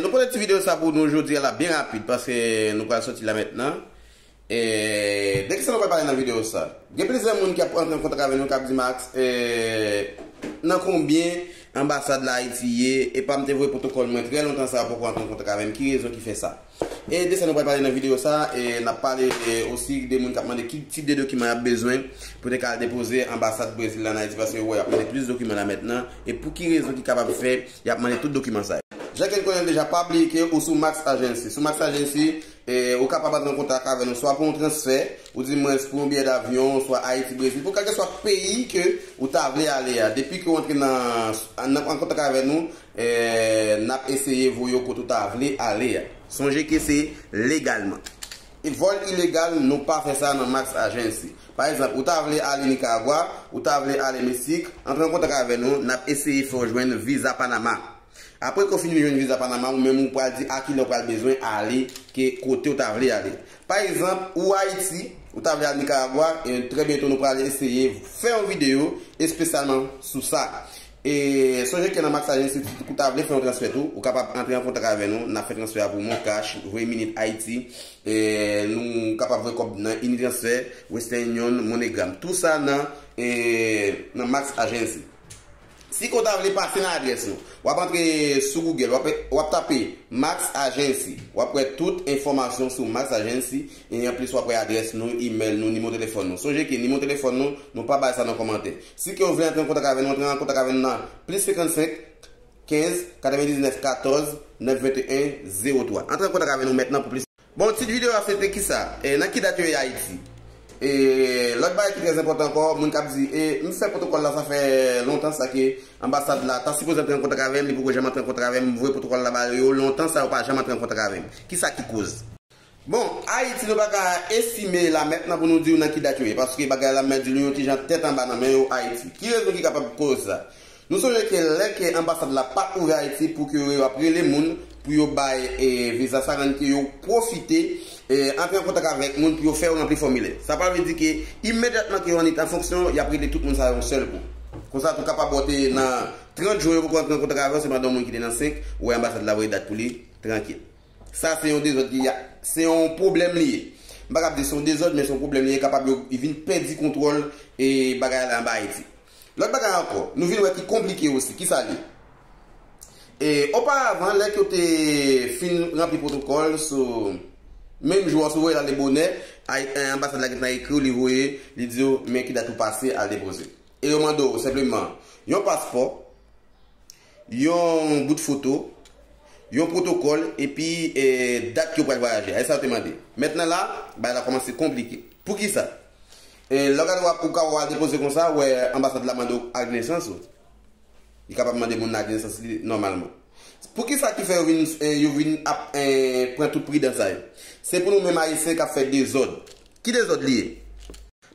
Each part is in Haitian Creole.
Nou pote ti video sa pou nou jodi a la byen rapid paske nou pral soti la mentnan. De kisa nou pral pale nan video sa? Gen plizyè moun ki ap rantre an kontak avè nou kap di Max nan konbyen anbasad la Ayiti ye? Epam te voye pwotokòl mwen trè lontan sa yo poko rantre an kontak avèm ki rezon ki fè sa? E de sa nou pral pale nan video sa, e nap pale osi de moun kap mande ki tip de dokiman yap bezwen pou te ka al depoze anbasad Brezil la an Ayiti paske yo wè yap mande plis dokiman la mentnan e pou ki rezon ki kapab fè yap mande tout dokiman sa yo. Jan ke n konnenl deja pa bliye ke ou sou Max Agency. Sou Max Agency, ou kapab antre an kontak avè nou swa pou yon transfè, ou di mwens pou yon biyè davyon, swa Ayiti Brezil, pou kalkeswa peyi ke ou ta vle ale a. Depi ke ou antre nan an kontak avè nou, N ap eseye voye w kote w ta vle ale a. Sonje ke se legalman. E vòl ilegal, nou pa fè sa nan Max Agency. Pa egzanp, ou ta vle ale Nikaragwa, ou ta vle ale Meksik, antre an kontak avè nou, n ap eseye fè w jwenn viza Panama. Apre ke w fini jwenn viza Panama, ou menm ou pral di a kilè w pral bezwen ale, ke kote w ta vle ale. Pa egzanp, ou Ayiti, ou ta vle al Nikaragwa, trè byento nou pral eseye fè yon videyo espesyalman sou sa. E sonje ke nan MaxAgence si ou ta vle fè yon transfè tou, ou kapab antre an kontak avè nou, nap fè transfè a pou ou Moncash, Voye Minit Haiti, nou kapab voye kòb nan Unitransfer, Western Union, MoneyGram. Tou sa nan nan MaxAgence. Si ke ou ta vle pase nan adrès nou, wap antre sou Google, wap tape MaxAgence, wap wè tout enfòmasyon sou MaxAgence, e anplis wap wè adrès nou, email nou, nimo telefòn nou. Sonje ke nimo telefòn nou, nou pa bay sa nan kòmantè. Si kew vle antre an kontak avè nou antre an kontak avè nou nan plis 55 15 99 14 9 21 03 antre an kontak avè nou mentnan pou plis. Bon tit video a se te kisa? E nan ki dat yo ye ayiti? E lòt bagay ki trè enpòtan ankò moun kap di e m fè pwotokòl la sa fè lontan sa ke anbasad la ta sipoze antre an kontak avèm li poko janm antre an kontak avèm m voye pwotokòl la ba yo lontan sa yo pa janm antre an kontak avèm kisa ki koz Bon, Ayiti nou paka estime la mèt nan pou nou diw nan ki dat yo ye, paske bagay la mèt di nou yon ti jan tèt anba nan men yo Ayiti. Ki rezon ki kapab koz sa? Nou sonje ke lè ke anbasad la pa ouvè Ayiti pou ke yo ap rele moun pou yo bay viza sa rann ke yo pwofite antre an kontak avèk moun pou yo fè yo ranpli fòmilè. Sa pa vle di ke imedyatman ke yo annik an fonksyon yap rele tout moun sa yo yon sèl kou. Konsa tou kapab ou te nan 30 jwen yo poko antre an kontak avèw se pandan yon moun ki te nan 5 wè anbasad la voye dat pou li, trankil. Sa se yon dezòd ki a, se yon pwoblèm li ye. M pa kab di se yon dezòd men se yon pwoblèm li ye kapab yo vin pèdi kontwòl e bagay la anba Ayiti. Lòt bagay ankò, nou vin wè ki konplike osi, ki sa l ye? E oparavan lè k yo te fin ranpli pwotokòl sou menm jou a, si w voye l ale bonè, Ay, anbasad la gentan ekri w, li voye, li di w men ki dat ou pase al depoze. E yo mande w senpleman yon paspò. Yon bout foto, yon pwotokòl epi dat yo pral vwayaje a. E sa yo te mande. Mètnan la, bagay la kòmanse konplike. Poukisa? Lè w gade w ap ou ka wè w al depoze konsa wè anbasad la mande w ak nesans ou. Li kapab mande moun nan ak nesans li nòmalman. Poukisa ki fè yo vin yo vin ap pran tout pridan sa yo? Se pou nou menm Ayisyen k ap fè dezòd. Ki dezòd li ye?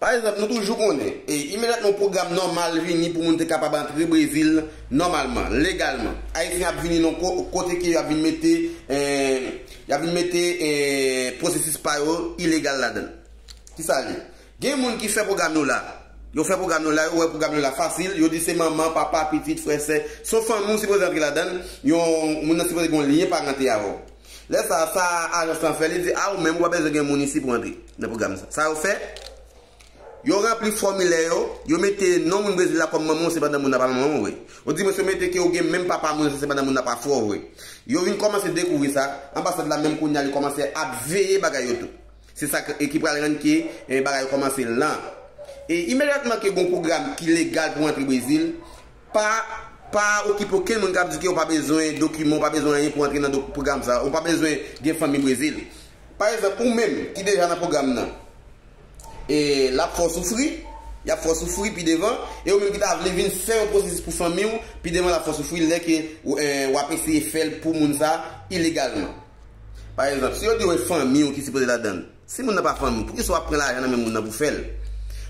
Pa egzanp, nou toujou konnen, e imedyatman yon pwogram nòmal vini pou moun te kapab antre Brezil nòmalman, legalman, Ayisyen ap vini nan yon kote ke yo ap vin mete, y ap vin mete pwosesis pa yo ilegal ladan l. Ki sa l ye? Gen moun ki fè pwogram yo la. Yo fè pwogram yo la, yo wè pwogram yo la fasil, yo di se manman, papa, pitit, frè, sè, s on fanmi ou sipoze antre ladan l, yon moun nan sipoze gen yon lyen parante avè w. Lè sa a, sa ajans lan fè, li di, a ou menm, ou pa bezwen gen moun isi pou antre nan pwogram sa. Sa yo fè, yo ranpli fòmilè yo, yo mete non moun Brezil la kòm manman w se pandan moun nan pa manman w vre. Ou di mwen si yo mete ke ou gen menm papa moun se pandan moun nan pa frè w vre. Yo vin kòmanse dekouvri sa, anbasad la menm kounye a li kòmanse ap veye bagay yo tou. Se sa k, ki pral rann ke bagay yo kòmanse lan. E imedyatman ke gon pwogram ki legal pou antre Brezil, Pa pa okipe okenn moun kap di ke ou pa bezwen dokiman, ou pa bezwen anyen pou antre nan do pwogram sa a, ou pa bezwen gen fanmi Brezil. Pa egzanp, ou menm ki deja nan pwogram nan, e lap fè w soufri, yap fè w soufri pi devan, e ou menm ki ta vle vin fè yon pwosesis pou fanmi w, pi devan lap fè w soufri lè ke wap eseye fè l pou moun sa a ilegalman. Pa egzanp, si yo di w e fanmi w ki sipoze ladan l? Si moun nan pa fanmiw poukisa wap pran lajan nan men moun nan pou fèl?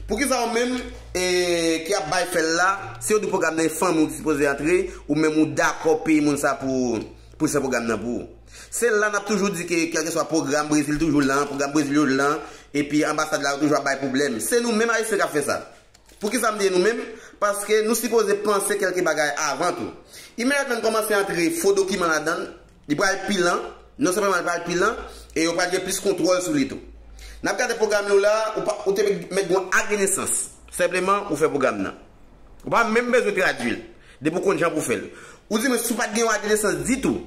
Poukisa ou menm ki ap bay fèl la si yo di pwogram nan e fanmiw ki sipoze antre ou menm ou dakò peye moun sa poul fè pwogram nan pou ou? Se la nap toujou di ke kèlkeswa pwogram Brezil toujou lan, pwogram Brezil yo lan epi anbasad la yo toujou ap bay pwoblèm. Se nou menm ayisyen kap fè sa. Poukisa mdi e nou menm? Paske nou sipoze panse kèlke bagay avan tou. Imediatman n kòmanse antre fo dokiman ladann, Li pral pi lan, non senpleman li pral pi lan, e yo pral gen plis kontwòl sou li tou. Nan ap gade pwogram yo la, ou pa, ou te mèt gen yon akenesans. Senpleman, ou fè pwogram nan. Ou pa menm bezwen tradui l, depi ou konn jan pou w fè l. Ou di mwen si w pa t gen yon akenesans ditou,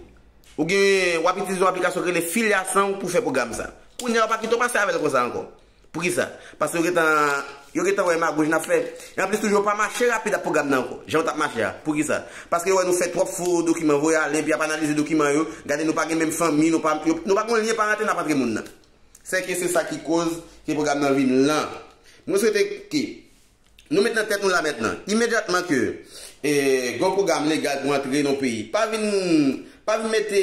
ou gen, w ap itilize yon aplikasyon ki rele Filiação pou w fè pwogram sa. Kounye a ou pa kite w pase avè l konsa ankò. Poukisa? Paske yo gentan yo gentan wè magouj nap fè. E anplis toujou yo pa mache rapid ak pwogram nan ankò, jan yo tap mache a. Poukisa? Paske yo wè nou fè twòp fo dokiman voye ale epi yap analize dokiman yo, gade nou pa gen menm fanmi, nou pa nou pa gon lyen parante nap antre moun nan. Sèke se sa ki koz ke pwogram nan vin lan. Mwen swete ke Nou met nan tèt nou la mentnan, imedyatman ke gwo pwogram legal pou antre nan yon peyi, pa vin pa vin mete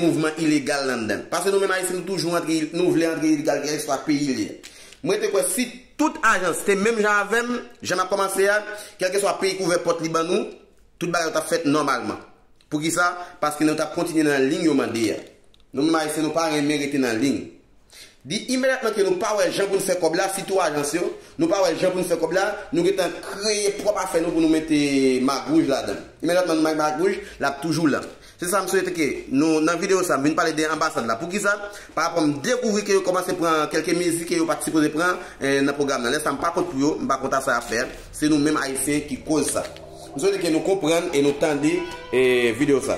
mouvman ilegal landan. Paske nou menm Ayisyen nou toujou antre nou vle antre ilegal kèlkeswa peyi li. Mwen rete kwè si tout ajans te menm jan avè m, jan n ap kòmanse a, kèlkeswa peyi k ouvè pòt li ban nou, tout bagay yo t ap fèt nòmalman. Poukisa? Paske nou t ap kontinye nan liy yo mande a. Nou menm Ayisyen nou pa renmen rete nan liy. Di imedyatman ke nou pa wè jan pou n fè kòb la, sitou ajans yo, nou pa wè jan pou n fè kòb la, nou gen tan kreye pwòp afè nou pou nou mete magwouj ladan l. Imedyatman nou bay magwouj, l ap toujou lan. Se sa m swete ke nou, nan videyo sa, m vin pale de anbasad la. Poukisa? Parapò m dekouvri ke yo kòmanse pran kèlke mezi ke yo pa t sipoze pran nan pwogram nan. Lè sa m pa kont pou yo, m pa kont a sa y ap fè a. Se nou menm Ayisyen ki koz sa. M swete ke nou konprann e nou tande videyo sa.